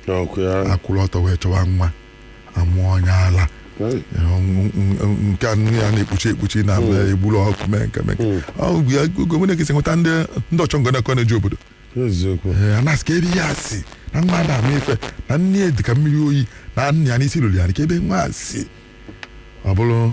Ọkụ ya. akwụrụ ọtọ wee chọwa nwa amụọ onye ala Hey. nke a nne ya na-ekpuchi ekpuchi na egburu ọkụ mee nke mee nke. Ọ bụ ya gọvanọ ga-esi nweta ndị ndị ọchọnganaoko na-eji obodo Eziokwu. Ee, a na-asị ka ebe ha si na nwa ada ama ife na nne ya dị ka mmiri oyi na nna ya n'isi ruru ya ka ebe nwa a si ọ bụrụ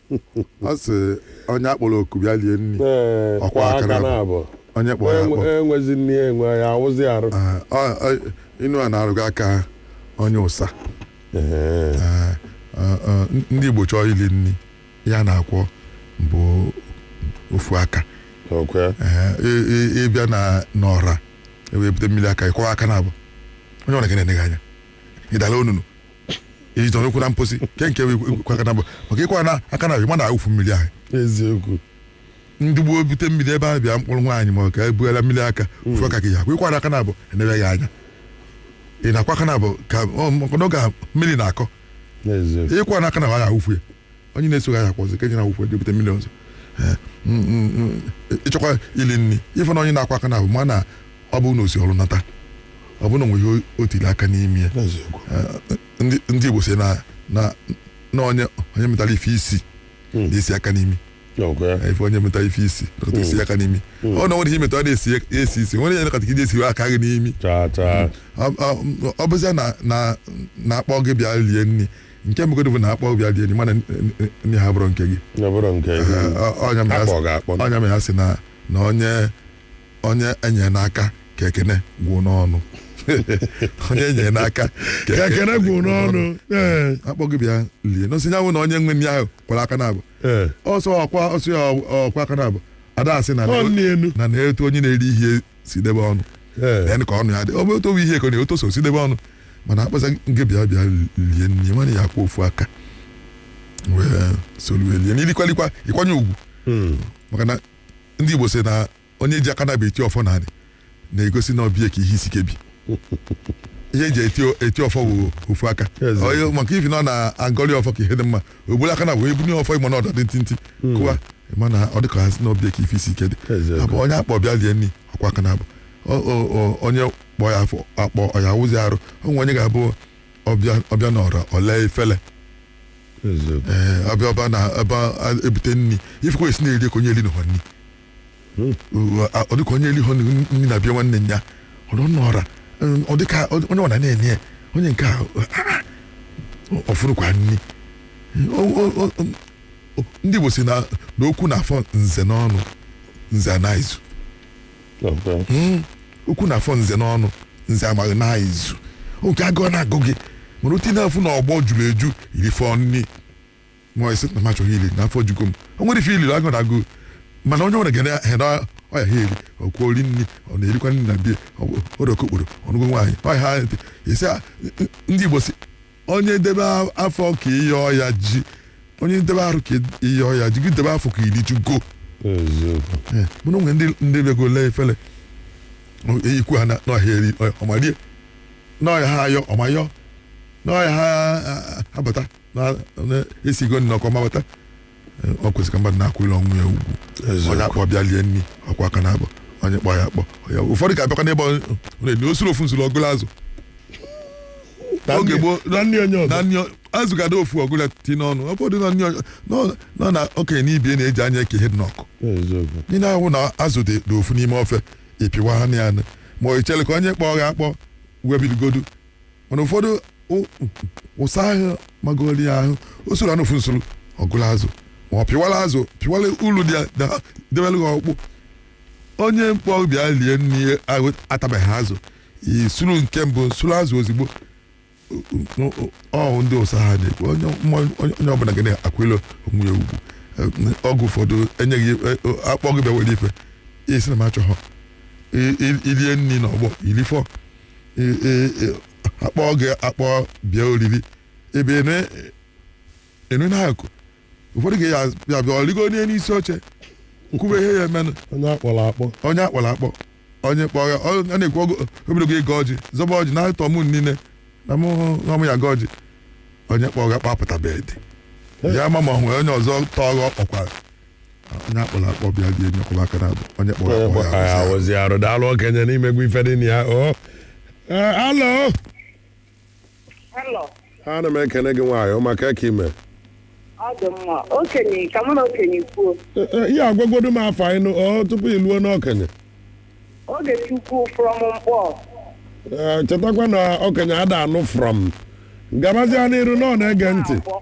ọ sị onye a kpọrọ oku bịa lie nri Ee, Ọ kwọ kwọọ aka aka naabụ. naabụ onye kpọrọ ya akpọ enwezi nri ya enwe ya-awụzi arụ Ee, ọ- ọ- inu a na-arụga aka onye ụsa Ee, Ee, ọ- ọ, ndị Igbo chọọ ili nri ya na-akwọ bụ ofu aka okwe Ee, ị- ị- ị bịa na n'ọra e wepụta mmiri aka ị kwọọ aka naabụ onye ọra ga na-ene gị anya ị dala onunu ị zọrọ ụkwụ na mposi nke nke kwọ aka naabụ maka ị kwọna aka naabụ ma na-awụfu mmiri ahụ eziokwu ndị gboo bute mmiri ebe a bịa mkpụrụ nwaanyị ma ọ ka ebuela mmiri aka ofu aka ka ị ya-akwọ ị kwọna aka naabụ enebe gị anya ị na-akwọ aka naabụ ka ọ- maka na oge mmiri na-akọ eziokwu ị kwọna aka naabụ a ga-awụfu ya onye na-eso gị aha akwọzi ka e ji na-awụfu ya je bute mmiri ọzọ Eh, mm, mm, mm, ị chọkwa ili nri ị fụ na onye na-akwọ aka naabụ ma na ọ bụ na o si ọrụ nata ọ bụ na o nwe ihe o tiri aka n'ime ya n'eziokwu Eh, ndị ndị Igbo si na na na onye onye metara ife isi Mm. na-esi aka n'imi ọ bụ ya Eh, ị fụ onye metara ife isi nakọta esi aka n'imi ọ na nwere ihe metara na-esi esi isi nwere ihe nakọta ka ị na-esi aka gị n'imi taa taa ọ- ọ- ọ bụzịa na na na a kpọọ gị bịa rie nri nke mbụ godu bụ na a kpọọ bịa lie nri mana nri a abụrọ nke gị ọ bụrọ nke gị ọ nya mere a kpọ gị akpọ ọ nya mere ha si na na onye onye enyere n'aka ka ekene gwụ n'ọnụ onye enyere n'aka ka ka ekene gwụ n'ọnụ ee a kpọọ gị bịa lie n'osi nyanwụ na onye nwe nri ahụ kwọrọ aka naabụ ee ọ sọ ọ kwọ ọ sọ ya ọ kwọọ aka naabụ ada asị na ọ n'ilu na na etu onye na-eri ihe si debe ọnụ Ee. then ka ọnụ ya dị ọ bụ otu owu ihe ka ọ na-atọ ụsọ si debe ọnụ mana akpọza nke bịa bịa lie nri ma na ị ya-akwọ ofu aka wee solu lie n'ilikwalikwa ị kwanye ugwu Mm. maka na ndị Igbo sị na onye ji aka naabụ eti ọfọ naanị na-egosi na ọ be ya ka ihe isi ike bi ihe e ji eti eti ọfọ bụ ofu aka Eze. Ọ- maka ifi na ọ na-agọli ọfọ ka ihe dị mma o bulu aka naabụ bunie ọfọ ị ma na ọda dị ntị ntị kụwa ị ma na ọ dịka ha sị na ọ be ya ka ife isi ike dị Eziokwu. abụ onye a kpọ bịa lie nri ọ kwọọ aka naabụ Ọ- ọ- ọ- onye kpọ ya afụ akpọ ọ ya-awụzi arụ o nwe onye ga-abụ ọbịa ọ bịa na ọra ọ laa efele eziokwu ee ọ bịa ọ ba na ebe a- e bute nri ị fụkwa o si na-eri ka onye erinuha nri ọ dịka onye eliho nri na be nwanne ya ọdọ nọra ọ dịka onye ọ na na-enye ya onye nke ahụ ọ fụrụkwa nri ndị Igbo sị na okwu na-afọ nze n'ọnụ nze ana izu okwu na-afọ nze n'ọnụ nze amaghị n'izu oge agụụ na-agụ gị mana otu ị na-afụ na ọgbọ juru eju i rifọ nri ma ị sị na m achọghọ ili na afọ jugo m o nwere ife i liri agụụ na-agụ mana onye nwere gere hena ọya ha eri ọkwụ ori nri ọ na-erikwa nri na bie okokporo ọ nụghị nwaanyị ọya ha ntị isi a- n- ndị Igbo sị onye debe afọ ka ihe ọya ji onye debe arụ ka ihe ọya ji gị debe afọ ka i rijugo eziokwu Eh, mana o nwe ndị ndị bego lee efele eyikwu ha na- n'ọhịa eri ọya- ọmarie n'ọhịa ha ayọ ọmayọ n'ọhịa ha a- a- abata na- na- esigo nri n'ọkụ mabata Eh, o kwesịrị ka mmadụ na-akwanyele onwe ya ugwu Eziokwu. onye akpọ bịa lie nri ọ kwọọ aka naabọ onye kpọ ya akpọ onye akpọ. ụfọdụ ga-abịakwa n'ebe ọ na-enye o suru ofu nsuru ọ gụlụ azụ Na oge nne- gboo- na nne onye ọzọ na nri ọ- azụ ga-adị ofu ọ gụlụ ti n'ọnụ ọ bụrụ na nri ọ- nọ- nọ na okenye na ibe ya na-eji anya eke ihe dị n'ọkụ eziokwu ndị na-ahụ na azụ dị dị ofu n'ime ofe ị pịwa ha na ya nụ. ma ọ i chere ka onye kpọọ gị akpọ wee bidogodu mana ụfọdụ ụ- ụsa ahụ magoro ya ahụ o surunụ ofu nsuru ọ gụlụ azụ ma ọ pịwala azụ pịwala ulu dị ya da- debere gị ọkpụ onye kpọ bịa lie nri ahụ atabeghị azụ i suru nke mbụ suru azụ ozugbo ọ bụ ndị ụsa ha na-ekwu onye mma- onye- onye ọbụla ga na-akwanyelu onwe ya ugwu Eh, ọgwụ ụfọdụ enyeghị eh, eh, a kpọọ gị bịa were ife ị sị na m achọghọ I- i- i lie nri n'ọgbọ i lifọ i- i- i- a kpọọ gị akpọ bịa oriri ebe enu na-akụ ụfọdụ ga ya bịa bịa ọ rịgo onye n'isi oche kwube ihe ya emenụ onye akpọrọ akpọ onye akpọrọ akpọ onye kpọọ ya ọ ọ na-ekwu ogo- ogologo ịgọ ọjị zọba ọjị na atọ m ụnụ niile na mụ na mụ ya-agọ ọjị onye kpọọ gị akpapụtabedị ya ma ma o nwere onye ọzọ tọọ gị ọ kpọkwara onye akpọrọ akpọ bịa bịa lie nri kwọba aka naabọ onye kpọrọ Onye akpọ kpọrọ ya ya awụzi arụ daalụ okenye na i mego ife dị na ya o Eh, alo Hello. ana m ekene gị nwaanyị ọma kee ka i me Ọ dị mma. Okenye, ka mụ na okenye kwuo. Eh, eh, ị ya-agwagodu m afa gị nụ o tupu i luo n'okenye Ogechukwu from Mkpọ. Eh, chetakwa na okenye ada anụ from gabazia n'iru na ọ na-ege ntị Abụọ.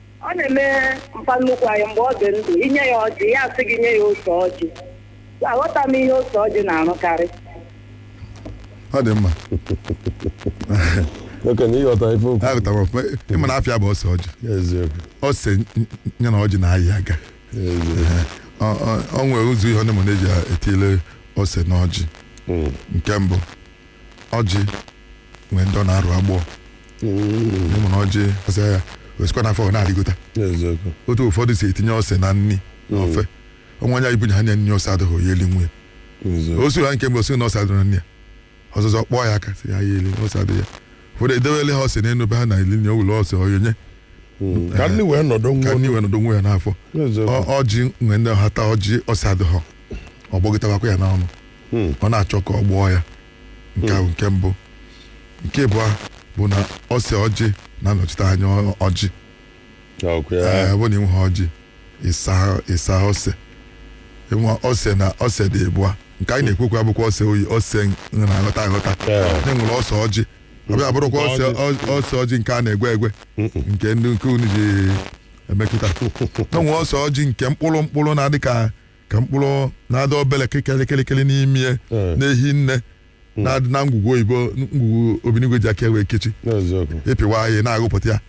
Ọ na-eme mpa nnukwu anyị mgbe ọ dị ndụ i nye ya ọjị ya asị gị nye ya ose ọjị aghọta m ihe ose ọjị na-arụkarị ọ dị mma oke na ịghọta ife okwu aghọtara m ọfụma ị ma na afa ya bụ ose ọjị eziokwu ose ya na ọjị na-ayị aga Ọ- ọ- ọ nwere ụzọ ihe ọ na-eme na-eji etile ose na ọjị nke mbụ ọjị nwee ndị ọ na-arụ agbọọ ị ma na ọjị o si ya o sikwa n'afọ ọ na-arịgota eziokwu otu ụfọdụ si etinye ose na nri na ofe o nwe onye i bunye ha nye nri ose adịghị ya eli nwunye eziokwu o siri ha nke mgbe o si na ose adịrị na nri ya ọzọzọ kpọọ ya aka si ya ya eli na ose adịghị ya ụfọdụ edewele ha ose n'elu be ha na eli nye ụlọ ose ọya onye ka ndị wee nọdụ ka nwa nri wee nọdụ nwe ya n'afọ eziokwu Ọ- ọjị nwee ndị ha taa ọjị ose adịghị ọ gbọgịtawakwa ya n'ọnụ Hmm. ọ na-achọ ka ọ gbọọ ya nke ahụ nke mbụ nke abụọ bụ na ose ọjị na-anọchite anya ọ- ọjị Ọkwa ya. Ee, ọ bụrụ na ị nweghị ọjị ịsa ịsa ose i nwe ose na ose dị abụọ nke anyị na-ekwukwa abụkwa ose oyi ose nri na-aghọta aghọta Ee. e nwere ose ọjị ọ bịa bụrụkwa ose ọ- ose ọjị nke a na-egwe egwe nke ndị nke unu ji emekọta na e nwee ose ọjị nke mkpụrụ mkpụrụ na-adị ka ka mkpụrụ na-adị obere kịkịrịkịrịkịrị n'ime ya Eh. na-ehi nne na-adị na ngwugwu oyibo ngwugwu obinigwe ji aka wee kechi n'eziokwu ị pịwa ya ị na-agụpụta ya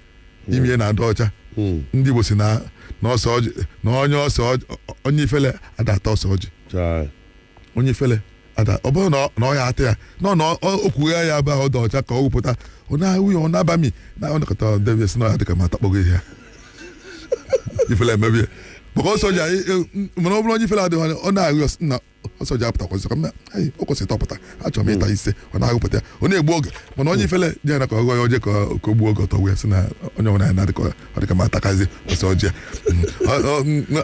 ime ya na-adị ọcha Mm. ndị Igbo si na na ose ọjị na onye ose ọjị onye ifele ada ata ose ọjị Chai. onye ifele ada ọ bụrụ na ọ- na ọ ya ata ya na ọ na ọ- o kwughe ya bụ ahụ ọ dị ọcha ka ọ wụpụta ọ na-awụ ya ọ na-abami na ọ nakọta debe sị na ọ ya-adị ka m atakpọgo ihe ya ifele emebe ya maka ose ọjị anyị e- m- mana ọ bụrụ onye ifele adịghị anya ọ na-ahụ ya na ose ọjị apụtakwazị ka m na "Ai, o kwesịrị tọpụta achọrọ m ịta ise ọ na-agụpụta ya ọ na-egbu oge mana onye ifele ji ya na ka ọ gụọ ya o je ka ọ- ka o gbuo oge ọtọ wee sị na onye ọbụla ya na-adị ka ọ dịka m atakazi ose ọjị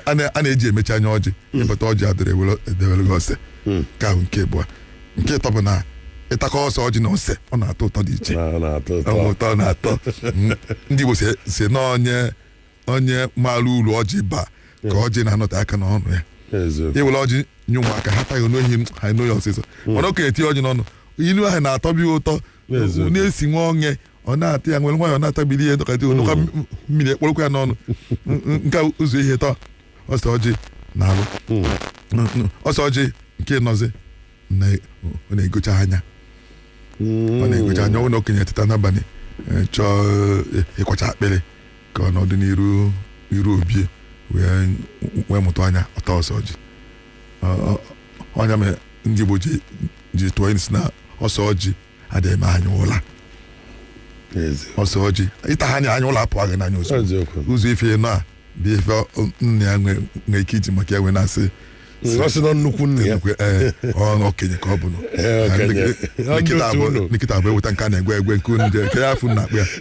a na-eji emechi anya ọjị ị bata ọjị adịrị e dewere gị ose nke ahụ nke abụọ nke ịtọ bụ na ị takọ ose ọjị na ose ọ na-atọ ụtọ dị iche ụtọ na-atọ ndị Igbo si na onye onye maara uru ọjị baa ka ọjị na-anọte aka n'ọnụ ya i were ọjị nye ụmụaka ha taghị n'ohi ha n'ohi ọsịsọ hmm. mana okenye etinye ọjị n'ọnụ ilu ahụ na-atọbi ụtọ na-esi nwa onye ọ na-ata ya were nwayọ na-atabili ihe dọka dị olu ka m- mmiri ekpọrọkwa ya n'ọnụ N- n- nke a ụzọ ihe ịtọ ose ọjị na-alụ N- n- ose ọjị nke ịnọzi na- ọ na-egocha anya ọ na-egocha anya ọ na okenye teta n'abalị eh, chọọ eh, ịkwacha akpịrị ka ọ nọdụ n'iru iru obi ya wee wee mụtụ anya ọ taa ose ọjị Ọ- ọ- ọ ya mere ndị Igbo ji ji tụọ sị na ose ọjị adịghị m anya ụla Ezi. ose ọjị ị taa ya anya anya ụla apụọ gị n'anya ozugbo Eziokwu. ụzọ ife nọ a bụ ife ọ- nna ya nwe nwe ike iji maka ya wee na-asị Ọ sị na nnukwu nne ya ekwe, ee, ọ na okenye ka ọ bụ nụ. Ee, okenye. Nkịta Ọ ndị otu abụọ- ụlọ. nkịta abụọ eweta nke a na-egwe egwe nke unu je- nke ya afụ na akpa ya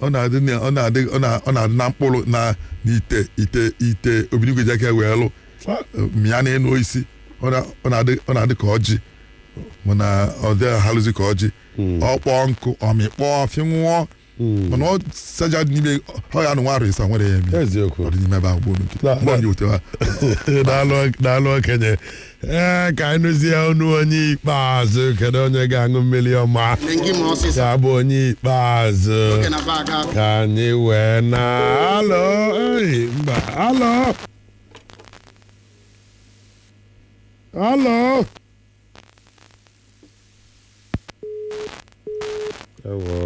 ọ na-adị na- ọ na-adị ọ na- ọ na-adị na mkpụrụ na n'ite ite ite obinigwe ji aka wee lụ mịa n'enu osisi ọ na- ọ na-adị ọ na-adị ka ọjị mana ọ dị ahalụzi ka ọjị ọ kpọọ nkụ ọ mịkpọọ fịnwụọ mana ose ọjị dị n'ime ọ ya anọ nwa arọ isa nwere ya eme eziokwu ọ dị n'ime ebe ahụ gboo nkịta Na- mgbe ọ dị otu a daalụ daalụ okenye ee ka anyị nụzie ọnụ onye ikpeazụ kedu onye ga-aṅụ mmiri ọma ya bụ onye ikpeazụ ka anyị wee naa alọ mba alọ alọ ewo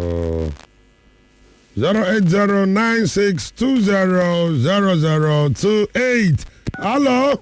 08096200028 alọ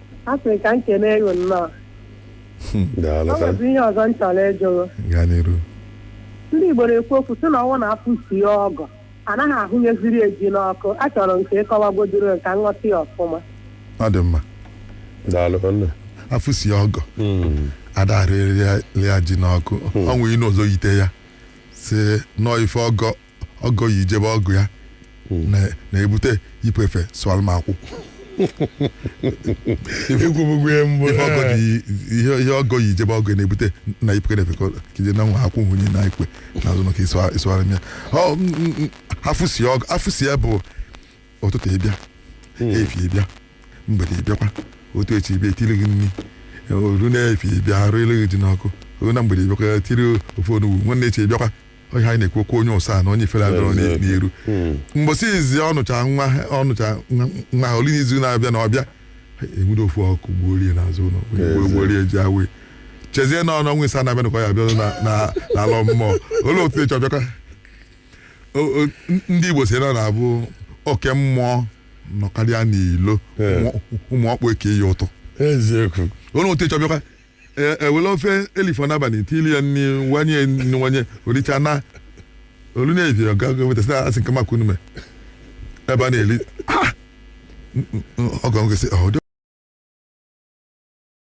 a sị ka m kenee gị nnọọ Daalụ o ka nwezi ihe ọzọ m chọrọ ịjụ gaa n'iru ndị igbo na-ekwu okwu sị na ọ wụ na afụsie ọgọ anaghị ahụnyeziri ya ji n'ọkụ achọrọ m ka ị kọwagodoro ka m ghọta ya ọfụma ọ dị mma daalụ ka nna afụsie ọgọ ada arụlụ ya ji n'ọkụ o nwee inu ọzọ yite ya sị na ọọ ife ọgọ ọgọ yi je be ọgọ ya na- na-ebute yipụ efe sụwara m akwụ ekwubugo ya mbụ Ife ọgọ dị- ihe ihe ọgọ yi je be ọgọ ya na-ebute na yipụ efe ka ọ- ka i je na nwa akwụ wụnye n'ikwe n'azụ maka ịsụwa- ịsụwara m ya Ọ, m- m- m- afụsie ọgọ afụsie ya bụ ụtụtụ ị bịa efi ị bịa mgbede ị bịakwa ụtụ echi ị bịa e tiri gị nri o ruo n'efi ị bịa a rụlụ gị ji n'ọkụ o ruo na mgbede ị bịakwa tiri ofe onugbu nwanne echi ị bịakwa onye anyị na-ekwu okwu onye ụsa na onye ifere adịrọ n'i- Eziokwu. n'iru Mm. mbọsị izizi ọ nọcha nwa ọ nọcha nwa- nwa ha o lue n'izu na-abịa na ọ bịa e were ofu ọkụ gbuoro ya n'azụ ụlọ Ezi. gbuoro ya ji e wee chezie na ọ n'ọnwa isa na-abịa na ka ọ ya abịa na- na- n'ala mmụọ o lue ụtụ echi ọ bịakwa O- o- n- ndị igbo sị na na-abụ oke mmụọ nọkarịa n'ilo Ee. ụmụ- ụmụ ọkpụ eke ya ụtọ eziokwu o lue ụtụ echi ọ bịakwa e were ofe e lifọ n'abalị tili ya nri wanye nwanye o richa naa o lue n'evi ọ gago wetasị a sị nke maka unume ebe a na-eli ọgọ nkesị ọdị